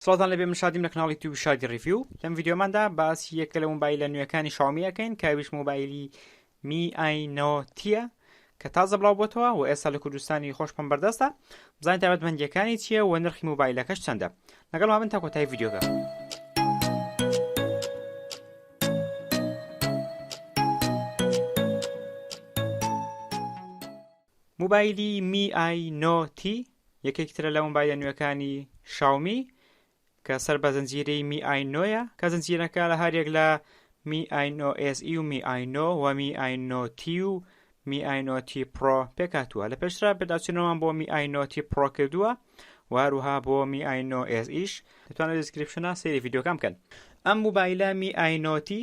سڵاتان لەبێ من شادیم لە کەناڵی توی شادی ڕیفیو لەم ڤیددیۆماندا باسی یەکە لە مۆبایلە نوێەکانی شاومی ئەەکەین کاویش مۆبایلی می ئاینۆتیە کە تازە بڵاو بۆتەوە و ئێستا لە کوردستانی خۆشمان بەردەستە بزان تابەتمەندیەکانی چییە و نرخی مۆبایلەکەش چەندە لەگەڵ من تا کۆتای ڤیددیوگە. موبایلی می ئای نۆ تی یەکێکی ترە لە موبایلە نوێکانی شاومی کە سەر بە زنجیرەی می ئای نۆیە کە زنجیرەکە لە هەریەک لە می ئای نۆ ئێس ئی و می ئای نۆ و می ئای نۆ تی و می ئای نۆ تی پرۆ پێکاتووە لە پێشترا پێداچوونەوەمان بۆ می ئای نۆ تی پرۆ کردووە واروها بۆ می ئای نۆ ئێس ئیش دەتوانێت دیسکریپشنە سێری یددیوکان بکەن ئەم موبایلە می ئای نۆ تی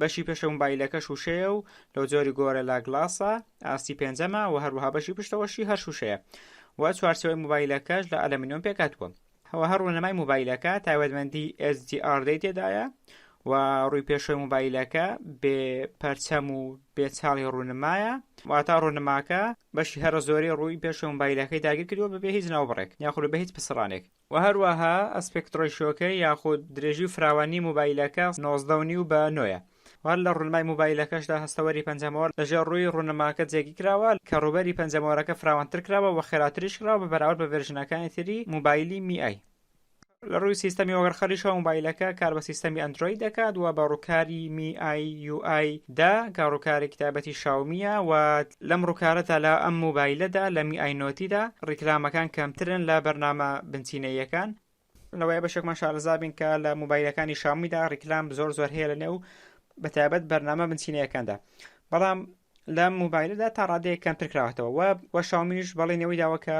بەشی پێشە موبایلەکەش وشەیە و لەو جۆری گۆرە لا گلاسە ئاستی پێنجەمە و هەروەها بەشی پشتەوەشی هەر شوشەیە و چوارچەوەی موبایلەکەش لە ئەلەمینۆم پێکاتوە هەوە هەر ڕوونەمای موبایلەکە تایبەتمەندی SDR دەی تێدایە و ڕووی پێشوی موبایلەکە بێ پەرچەم و بێ چاڵی ڕوونمایە واتا ڕوونماکە بەشی هەرە زۆری ڕووی پێشوی موبایلەکەی داگیر کردووە بەبێ هیچ ناوبڕێک یاخود بە هیچ پسڕانێک وە هەروەها ئەسپێکت ڕەیشۆکەی یاخود درێژی و فراوانی موبایلەکە نۆزدە و نیو بە نۆیە وار لە ڕونمای موبایلەکەشدا هەستەوەری پەنجەمۆر لەژێر ڕووی ڕونماکە جێگی کراوە کە ڕووبەری پەنجەمۆرەکە فراوانتر کراوە وە خێراتریش کراوە بە بەراورد بە ڤێرژنەکانی تری موبایلی می ئای لە ڕووی سیستەمی وەگەڕخەریشەوە موبایلەکە کار بە سیستەمی ئەندرۆید دەکات و بە ڕووکاری می ئای یو ئای دە کە ڕووکارێکی تایبەتی شاومییە و لەم ڕوکارەتا لە ئەم موبایلەدا لە می ئای نۆتیدا ڕیکلامەکان کەمترن لە بەرنامە بنچینەییەکان. لەوەیە بەشێکمان شارەزابین کە لە موبایلەکانی شاومیدا ڕیکلام زۆر زۆر هەیە لە نێو بەتابەت بەرنامە بنچینەکاندا بەڵام لە موبایلدا تا ڕادەیە کەمتر کراوەتەوە وە شاومیش بەڵی نەوەی داوە کە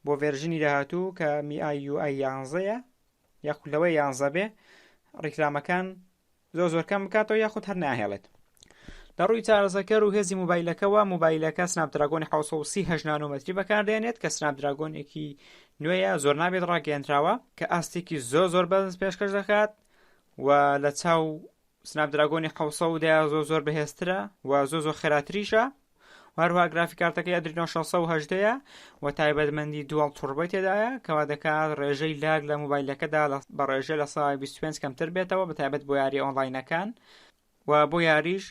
بۆ ڤێرژنی داهاتوو کە میئایUI یانزەیە یاخود لەوەی یانزە بێ ڕیکلامەکان زۆر زۆر کەم بکاتەوە یاخود هەر ناهێڵێت لە ڕووی چارەسەکەر و هێزی موبایلەکەەوە موبایلەکە سناپدراگۆنی 1930 نانۆمەتری بەکاردێنێت کە سناپدراگۆنێکی نوێیە زۆر نابێت ڕاگەێنراوە کە ئاستێکی زۆر زۆر بەز پێشکەش دەکات و لە چاو سناپدراگۆنی 1970 زۆر زۆر بەهێزترە و زۆ زۆ خێراتریشە هەروها گرافیکارتەکەی ئەدرینۆ 618ە و تایبەتمەندی دووەڵ توربەی تێدایە کەوا دەکات ڕێژەی لاگ لە موبایلەکەدا بە ڕێژە لە سای 25 کەمتر بێتەوە بە تایبەت بۆ یاری ئۆنلاینەکان و بۆ یاریش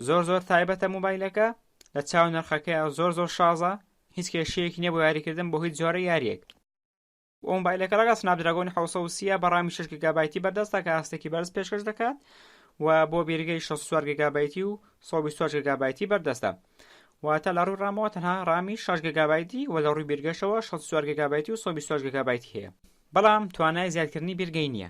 زۆر زۆر تایبەتە موبایلەکە لە چاو نرخەکەی زۆر زۆر شازە هیچ کێشەیەکی نیە بۆ یاریکردن بۆ هیچ جۆرە یاریەک و مۆبایلەکە ڕەگەز سناپدراگۆنی حەوت سەد و سی بە ڕامی شەش گیگابایتی بەردەستە کە ئاستێکی بەرز پێشکەش دەکات و بۆ بیرگەی 64 گیگابایتی و 124 گیگابایتی بەردەستە واتە لە ڕووی ڕامەوە تەنها ڕامی 6 گیگابایتی و لە ڕووی بیرگەشەوە 64 گیگابایتی و 124 گیگابایتی هەیە بەڵام توانای زیادکردنی بیرگەی نییە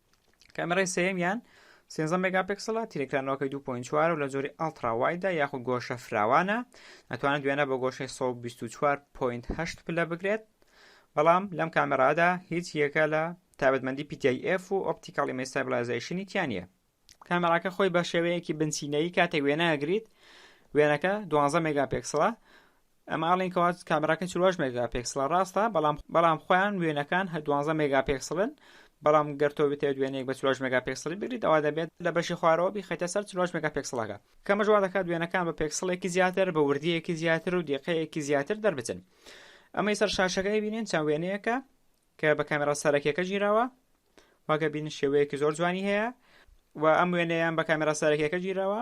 کامێرای سێیەمیان 13 مگاپکسڵە تیرکرانەوەکەی 2.4 و لە جۆری ئەڵترا وایدا یاخود گۆشە فراوانە ئەتوانێت دوێنە بە گۆشەی 124.8 پلە بگرێت بەڵام لەم کامێرادا هیچ یەکە لە تابەتمەندی PTIF و ئۆپتیکاڵی مەستابلایزیشنی تیانە کامێراکە خۆی بە شێوەیەکی بنچینەی کاتێک وێنەگریت وێنەکە 12 مگاپکسڵە ئەمە ئەڵێن کەوا کامێراکە چواش مێگا پێکسڵە ڕاستە بەڵام بەڵام خۆیان وێنەکان هە دوانزە مێگا پێکسڵن بەڵام گەرتۆ بتێت وێنێک بە چواش مێگا پێکسڵی بگریت ئەوە دەبێت لە بەشی خوارەوە بیخەیتە سەر چواش مێگا پێکسڵەکە کەمە جووا دەکات وێنەکان بە پێکسڵێکی زیاتر بە وردیەکی زیاتر و دیقەیەکی زیاتر دەربچن ئەمەی سەر شاشەکەی بینین چەند وێنەیەەکە کە بە کامێرا سەرەکیەکە گیراوە واگە بین شێوەیەکی زۆر جوانی هەیە و ئەم وێنەیان بە کامێرا سەرەکیەکە گیراوە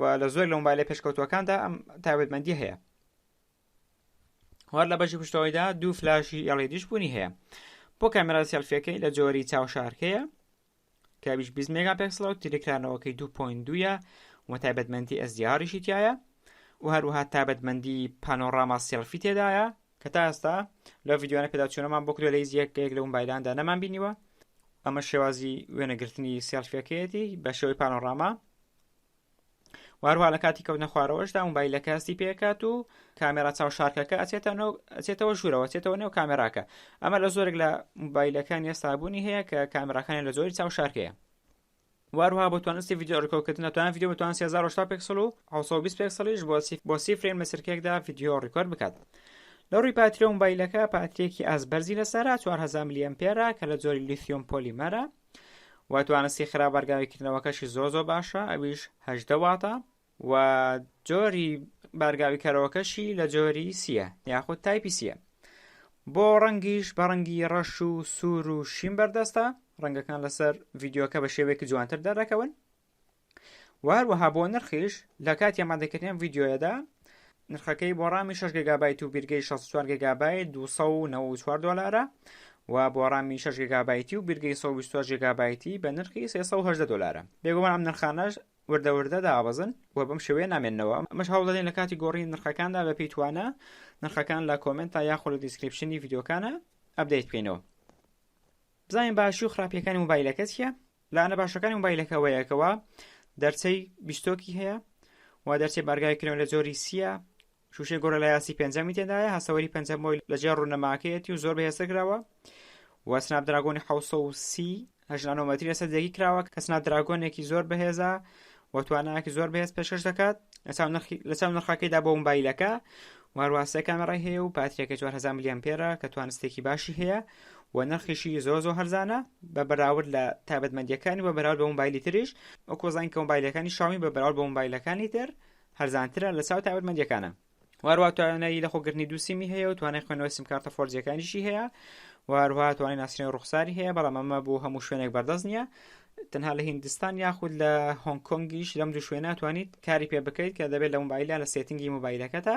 و لە زۆر لە مۆبایلە پێشکەوتوەکاندا ئەم تاوێتمەندی هەیە هەر لە بەشی پشتەوەیدا دوو فلاشی ئەڵێدیش بوونی هەیە بۆ کامێرا سێلفەکەی لە جۆری چاوشارکەیە کە 20 مێگا پێکسڵە و تریکرانەوەکەی 2.2 و تایبەتمەندی ئەزدیاریشی تایە و هەروها تابەتمەندی پانۆڕاما سێلفی تێدایە کە تا ئێستا لە ڤیددیوانە پێداچوونەمان بۆ کرێ لە هیچ یەکێک لە موبایلاندا نەمان بینیوە ئەمە شێوازی وێنەگرتنی سێلفەکەیەتی بە شێوەی پانۆڕاما واروها لە کاتی کەوتنە خوارەوەشدا موبایل لە کاستی پێکات و کامێرا چاو شارکەکە ئەچێتەوە ژوورەوە چێتەوە نێو کامێراکە ئەمە لە زۆرێک لە موبایلەکان ئێستابوونی هەیە کە کامێراکانی لە زۆری چاو شارکەیە وهروها بۆ توانست ی ڤیدیۆ ڕیکۆرد کردن دەتوانێت ڤیدیۆ بە توانست ی هەزار و هەشتا پێکسڵ و حەوت سەد و بیست پێکسڵیش بۆ سی بۆ سی فرەیم لە چرکەیەکدا ڤیدیۆ ڕیکۆرد بکات لە ڕووی باتری و مۆبایلەکە باتریەکی ئاست بەرزی لەسەرە چوار هەزار ملی ئەمپێرە کە لە جۆری لیثیۆم پۆلیمەرە و توانستی خراپ بارگاوی کردنەوەکەشی زۆر زۆر باشە ئەویش هەژدە واتە و جۆری بارگاوی کەرەوەکەشی لە جۆری سیە یاخود تایپی سیە بۆ ڕەنگیش بە ڕەنگی ڕەش و سوور و شین بەردەستە ڕەنگەکان لەسەر ڤیددیوکە بە شێوەیەکی جوانتر دەردەکەون وهروەها بۆ نرخیش لە کاتی ئەمادەکردنیان ڤیددیوەدا نرخەکەی بۆ ڕامی 6 گگابایت و بیرگەی 64 گگابایت 294 دلارە و بۆ ڕامی 6 گگابایتی و بیرگەی 124 گگابایتی بە نرخی 310 دلارە بێگومان ئەم نرخانەش وردە وردە دابەزن و بەم شێوەیە نامێنەوە مەش هەوڵ دەدەین لە کاتی گۆڕی نرخەکاندا بە پێی توانە نرخەکان لە کۆمنت تا یاخۆ لە دیسکرپشنی یددیوکانە ئەبدەیت بکەینەوە بزانین باشی و خراپیەکانی موبایلەکە چیە لاەنە باشەکانی موبایلەکەوەیەکەوە دەرچەی بیستۆکی هەیە و دەرچەی بارگای کرێن لە جۆری سیە شووشەی گۆرەلایاسی پێنجەمی تێدایە هەسەوەری پێنجەم بۆی لەجێ ڕوونەماکەیەتی و زۆر بەهێزتر کراوە و سناب دراگۆنی حوسە و سی هەژنانۆمەتری لەسەر دەگی کراوە کە سناب دراگۆنێکی زۆر بەهێزە و توانایەکی زۆر بەهێز پێشکەش دەکات لەچاو نرخەکەیدا بۆ مبایلەکە وارواسە کامێڕای هەیە و پاتریەکە 4 میلیۆن پێرە کە توانستێکی باشی هەیە و نرخیشی زۆر زۆر هەرزانە بە بەراورد لە تابەتمەندیەکانی بە بەراورد بە مبایلی تریش وەکۆزانین کە مبایلەکانی شامی بە بەراورد بە مبایلەکانی تر هەرزانترە لە چاو تایبەتمەندیەکانە واروا توانایی لە خۆگرنی دوو سیمی هەیە و توانای خوێنەوەی سمکارتە فۆرجیەکانیشی هەیە واروا توانای ناسرێن ڕوخساری هەیە بەڵام ئەمە بۆ هەموو شوێنێک بەردەست نییە تەنها لە هندستان یاخود لە هۆنگ کۆنگیش لەم دوو شوێنە توانیت کاری پێ بکەیت کە دەبێت لە موبایلە لە سێتنگی موبایلەکەتە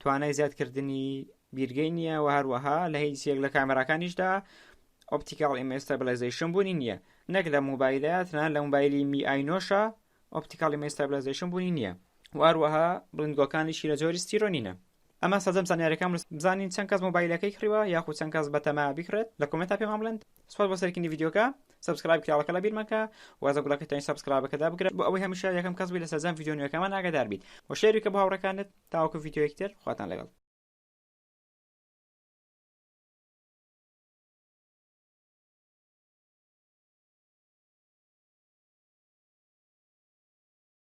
توانای زیادکردنی بیرگەی نییە و هەروەها لە هیچ یەک لە کامێراکانیشدا ئۆپتیکاڵ ئیمێستابلایزیشن بوونی نییە نەک لە موبایلە تەنان لە موبایلی می ئاینۆشە ئۆپتیکاڵی مێستابلایزیشن بوونی نییە و هەروەها بڵندگۆکانیشی لە جۆری ستیرۆنینە ئەمە سەزم زانیارەکان بزانین چەند کەس مۆبایلەکەی کڕیوە یاخود چەند کەس بەتەما بکرێت لە کۆمنتا پێمان بڵند سوپاس بۆ سەرکردنی ڤیدیۆکە سبسکرایب کراوەکە لە بیرمەکە وازە گوڵەکەتەوەی سبسکرایبەکەدا بگرێت بۆ ئەوەی هەمیشە یەکەم کەس بووی لە سەرجەم ڤیدیۆنیەکەمان ئاگادار بیت و شێری کە بۆ هاوڕەکانت تاوەکو ڤیدیۆیەکی تر خواتان لەگەڵ.